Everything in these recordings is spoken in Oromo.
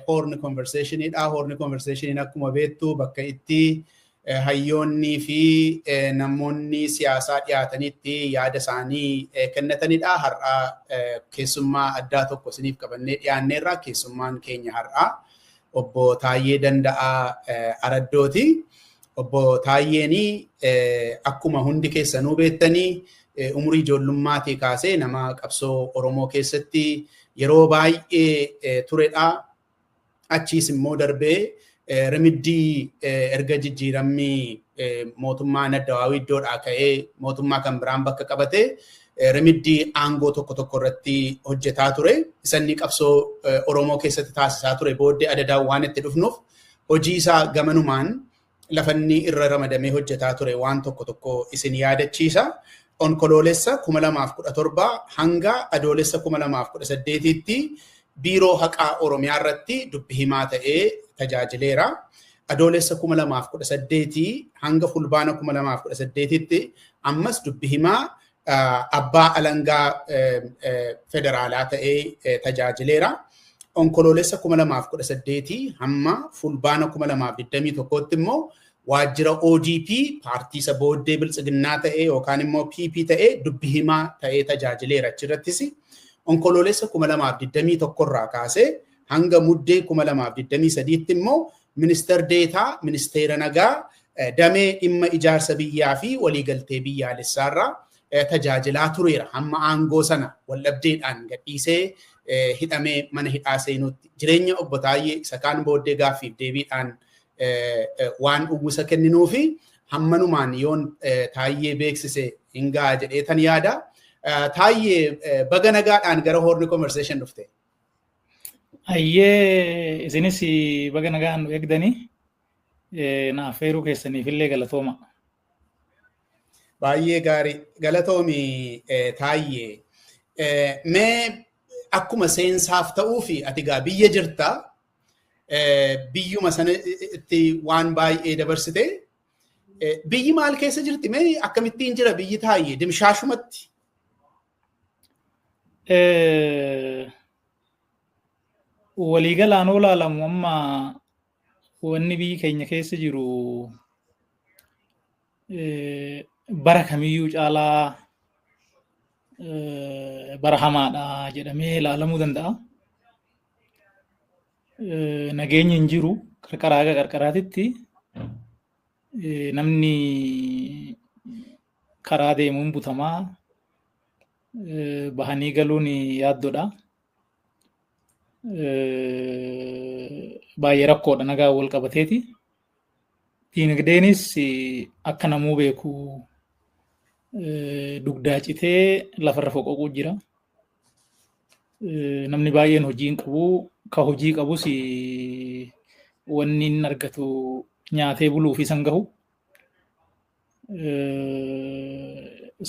hoorni konverseeshinii dha. Hoorni konverseeshiniin akkuma beektu bakka itti hayyoonnii fi namoonni siyaasaa dhiyaatanitti yaada isaanii kennatanidha. Har'a keessummaa addaa tokko isiniif qabannee dhiyaanneerra. Keessummaan keenya har'a obbo Taayyee Danda'aa Araddooti. Obbo Taayyeen akkuma hundi keessanuu beektanii umurii ijoollummaatii kaasee nama qabsoo Oromoo keessatti yeroo baay'ee turedha. Achiis immoo darbee rimiddii erga jijjiiramni mootummaa Addawaawii iddoodhaa ka'ee mootummaa kan biraan bakka qabate rimiddii aangoo tokko tokko irratti hojjetaa ture. Isanni qabsoo Oromoo keessatti taasisaa ture booddee adadaan waan itti dhufnuuf Hojii isaa gamanumaan lafa inni irra ramadamee hojjetaa ture waan tokko tokko isin yaadachiisa. Onkoloolessa 2017 hanga Adoolessa 2018tti Biiroo Haqaa Oromiyaa irratti dubbi himaa ta'ee tajaajileera. Adoolessa 2018 hanga Fulbaana 2018tti ammas dubbi himaa abbaa alangaa federaalaa ta'ee tajaajileera. Onkoloolessa 2018 hamma fulbaana 2021tti immoo waajjira ODP paartii isa booddee biltsiginnaa ta'ee yookaan immoo PP ta'ee dubbi himaa ta'ee tajaajileera achirrattis. Onkoloolessa 2021 irraa kaasee hanga muddee 2023tti immoo Ministar Deetaa Ministeera Nagaa damee dhimma ijaarsa biyyaa fi waliigaltee biyyaalessaarra tajaajilaa tureera. Hamma aangoo sana waldhabdeedhaan gadhiisee hidhamee mana hidhaa seenuutti. Jireenya obbo Taayyee isa kaan booddee gaaffiif deebiidhaan waan uwwisa kenninuu fi hammanumaan yoon Taayyee beeksise hin ga'a jedhee tan yaada. Taayyee baga nagaadhaan gara Horn Conversation dhufte. Ayyee isinis baga nagaan nu eegdanii na affeeruu keessaniif illee galatooma. Baay'ee gaarii galatoomi taayyee. Mee akkuma seensaaf ta'uu fi ati gaa biyya jirta biyyuma sanatti waan baay'ee dabarsite biyyi maal keessa jirti mee akkamittiin jira biyyi taayyee dimshaashumatti waliigalaan yoo ilaalamu amma wanni biyyi keenya keessa jiru bara kamiyyuu caalaa bara hamaadha jedhamee ilaalamuu danda'a. Nageenyi hin jiru qarqaraa haga qarqaraatitti namni karaa deemuun butamaa bahanii galuun yaaddodha. Baay'ee rakkoodha nagaa wal qabateeti. Diinagdeenis akka namuu beeku dugdaa citee lafarra foqoquu jira. Namni baay'een hojii hin qabu. Ka hojii qabus wanni hin argatu nyaatee buluuf isan gahu.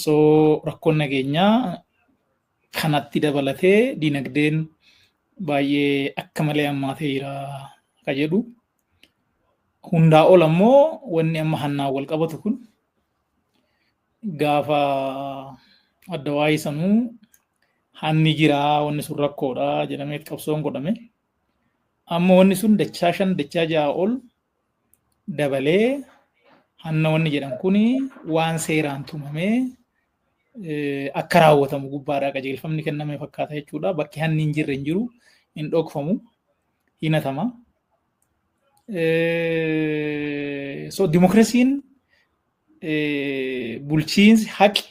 So rakkoon nageenyaa kanatti dabalatee dinagdeen baay'ee akka malee hammaatee jira ka jedhu. Hundaa ol ammoo wanni amma hannaan wal qabatu kun gaafa adda waa'ee sanuu hanni jiraa wanni sun rakkoodha jedhamee qabsoon godhame. Amma wanni sun dachaa shan dachaa ja'a ol dabalee hanna wanni jedhan kun waan seeraan tumamee akka raawwatamu gubbaadhaa qajeelfamni kenname fakkaata jechuudha. Bakki hanni hin jirre hin jiru, hin dhokfamu, hin hatama. So dimokiraasiin bulchiinsi haqi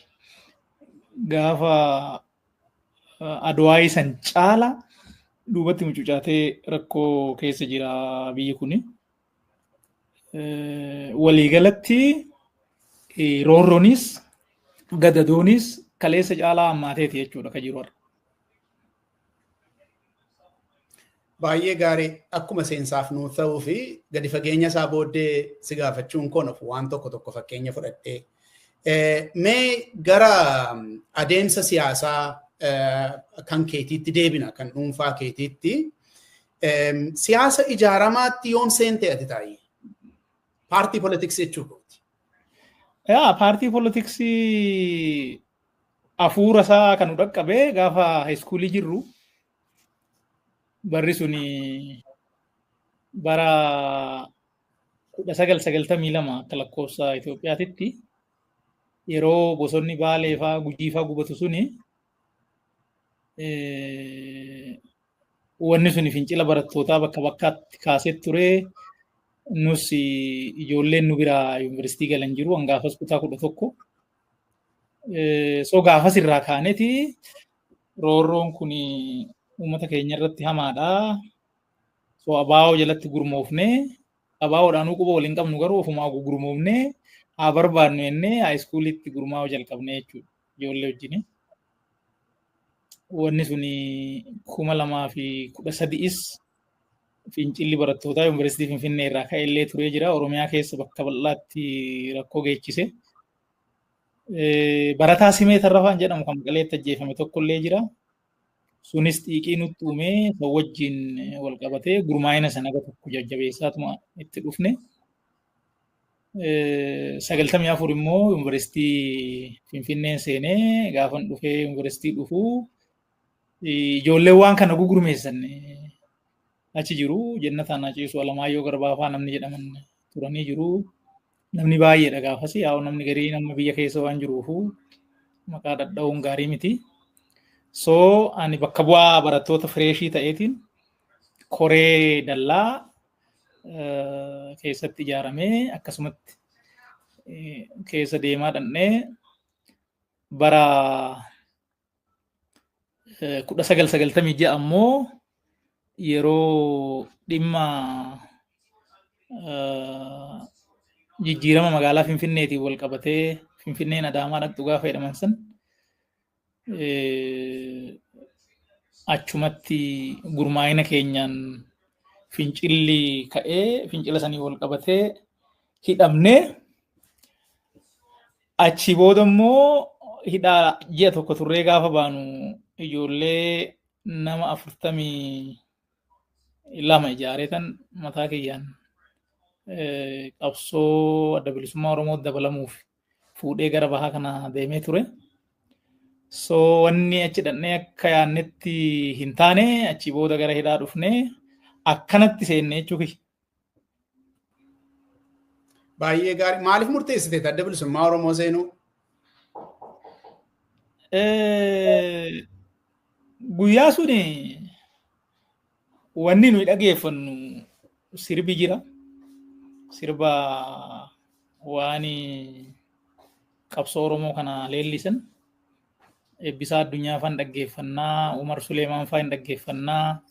gaafa Adwaayii san caala duubatti mucucaatee rakkoo keessa jira biyyi kun. Waliigalatti roorroonis gadadoonis kaleessa caalaa hammaateeti jechuudha kan jiru har'a. Baay'ee gaarii akkuma seensaaf nuuf ta'uu fi gadi fageenya isaa booddee si gaafachuun koo nuuf waan tokko tokko fakkeenya fudhadhee. Mee gara adeemsa siyaasaa kan keetiitti deebina kan dhuunfaa keetiitti. Siyaasa ijaaramaatti yoom seentee ati taa'ee? Paartii poolitiksii jechuudha. Yaa paartii poolitiksii Afuura isaa kan nu dhaqqabe gaafa haayiskuulii jirru barri suni bara kudha sagal sagaltamii lama akka lakkoofsa Itoophiyaatitti yeroo bosonni baalee faa gujii faa gubatu suni wanni suni fincila barattootaa bakka bakkaatti kaasee ture. Nus ijoolleen nu biraa yuunivarsiitii galan jiru. Hangaafas kutaa kudha tokko So gaafas irraa kaaneti roorroon kun uummata keenya irratti hamaadha. So abaa'oo jalatti gurmoofne abaa'oodhaan quba waliin qabnu garuu ofumaa gurmoofne haa barbaadnu jennee haayiskuuliitti gurmaa'uu jalqabne jechuudha ijoollee wajjin. Wanni sun kuma lamaa fi kudha sadi'is Fincilli barattootaa Yuunivarsiitii Finfinnee irraa ka'e illee turee jira. Oromiyaa keessa bakka bal'aatti rakkoo geechise. Barataa Simee Tarrafaan jedhamu kan Maqaleetti ajjeefame tokko illee jira. Sunis xiiqii nutti uumee kan wajjin wal qabatee gurmaa'ina sana gara tokko jajjabeessaatuma itti dhufne. Sagaltamii afur immoo Yuunivarsiitii Finfinneen seenee gaafan dhufee Yuunivarsiitii dhufuu Ijoolleen waan kana gugurmeessan achi jiru. Jennataan Haceesuu Alamaayyoo Garbaafaa namni jedhaman turanii jiru. Namni baay'eedha gaafas. Yaa namni garii nama biyya keessa waan jiruufu maqaa dhadha'uun gaarii miti. So ani bakka bu'aa barattoota fireeshii ta'eetiin koree dallaa keessatti ijaaramee akkasumatti keessa deemaa dhannee bara kudha sagal sagaltamii ja'a ammoo yeroo dhimma jijjiirama magaalaa Finfinneetiin wal qabatee Finfinneen Adaamaa dhaqxu gaafa jedhaman san achumatti gurmaa'ina keenyaan fincilli ka'ee fincila sanii wal qabatee hidhamnee Achi booda immoo hidhaa ji'a tokko turree gaafa baanu ijoollee nama afurtamii lama ijaaree tan mataa kiyyaan qabsoo adda bilisummaa Oromoo dabalamuuf fuudhee gara bahaa kana deemee ture. So wanni achi dhannee akka yaannetti hin taane achi booda gara hidhaa dhufnee akkanatti seenne jechuufi. Baay'ee gaarii. Maaliif murteessite adda bilisummaa Oromoo seenuu? Guyyaa sun wanni nuyi dhageeffannu sirbi jira. Sirba waan qabsoo Oromoo kana leellisan. Eebbisaa Addunyaa faan dhaggeeffannaa, Umar Suleemaan faan dhaggeeffannaa,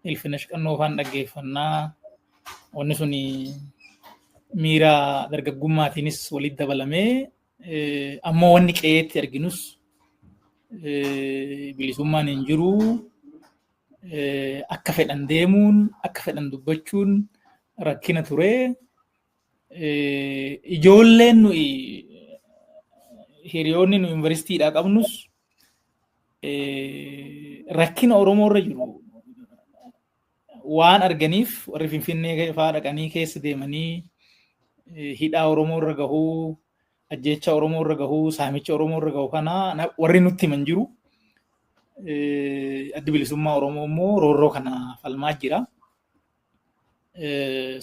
Ilfinesh Qannoo faan dhaggeeffannaa. Wanni sun miira dargaggummaatiinis walitti dabalamee eh, ammoo wanni qe'eetti arginus eh, bilisummaan hin jiru. Eh, Akka fedhan deemuun, akka fedhan dubbachuun rakkina ture. Ijoolleen nuyi hiriyoonni nu yuunivarsiitiidhaa qabnus rakkina Oromoo irra jiru waan arganiif warri Finfinnee fa'aa dhaqanii keessa deemanii hidhaa Oromoo irra gahuu, ajjeechaa Oromoo irra gahuu, saamicha Oromoo irra gahu kana warri nutti himan jiru. Addi bilisummaa Oromoo immoo roorroo kana falmaa jira.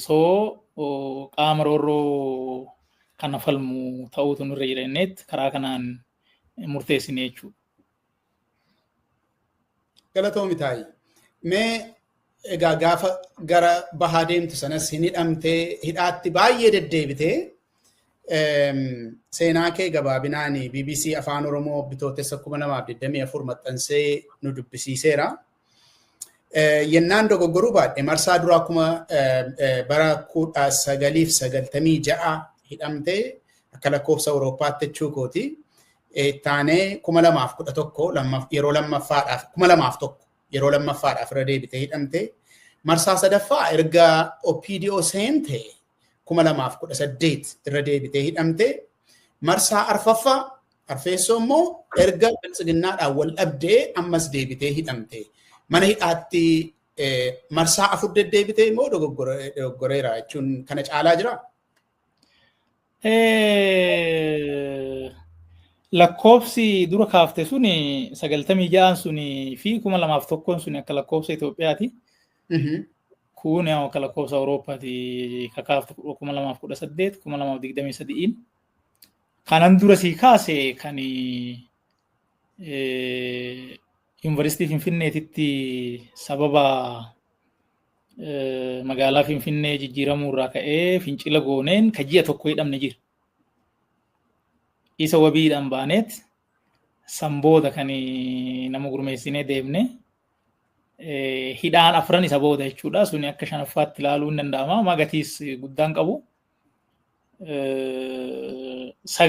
soo qaama roorroo kana falmu ta'uutu nurra jira jenneet karaa kanaan murteessine jechuudha. Galatoomi taayi. Mee egaa gaafa gara bahaa deemtu sanas hin hidhamtee hidhaatti baay'ee deddeebitee seenaa kee gabaabinaan BBC Afaan Oromoo bitootessa 2024 maxxansee nu dubbisiiseera. Yennaan dogoggoruu baadhe marsaa duraa kuma bara kudha sagaliif sagaltamii ja'a hidhamte akka lakkoofsa Awurooppaatti jechuu kooti. Taanee kuma lamaaf kudha tokko yeroo lammaffaadhaaf kuma lamaaf tokko yeroo lammaffaadhaaf irra deebitee hidhamte. Marsaa sadaffaa erga OPDO seente 2018 irra deebitee hidhamte marsaa arfaffaa arfeessoo immoo erga biltsiginnaadhaan wal dhabdee ammas deebitee hidhamte mana hidhaatti marsaa afur deddeebitee immoo dogoggoreera jechuun kana caalaa jira. Lakkoofsi dura kaafte sun sagaltamii ja'aan sun fi kuma lamaaf tokkoon sun akka lakkoofsa Itoophiyaati. Kun yaa akka lakkoofsa Awurooppaati kakaaftu kuma lamaaf kudha saddeet kuma lamaaf digdamii sadi'iin. Kanan dura sii kaase kan yuunivarsiitii Finfinneetitti sababa magaalaa Finfinnee jijjiiramuu irraa ka'ee fincila gooneen ka ji'a tokko hidhamne jira. Isa wabiidhaan baaneet San booda kan nama gurmeessinee deemne hidhaan afran isa booda jechuudha. Suni akka shanaffaatti ilaaluu hin danda'ama. Amma gatiis guddaan qabu. Sagal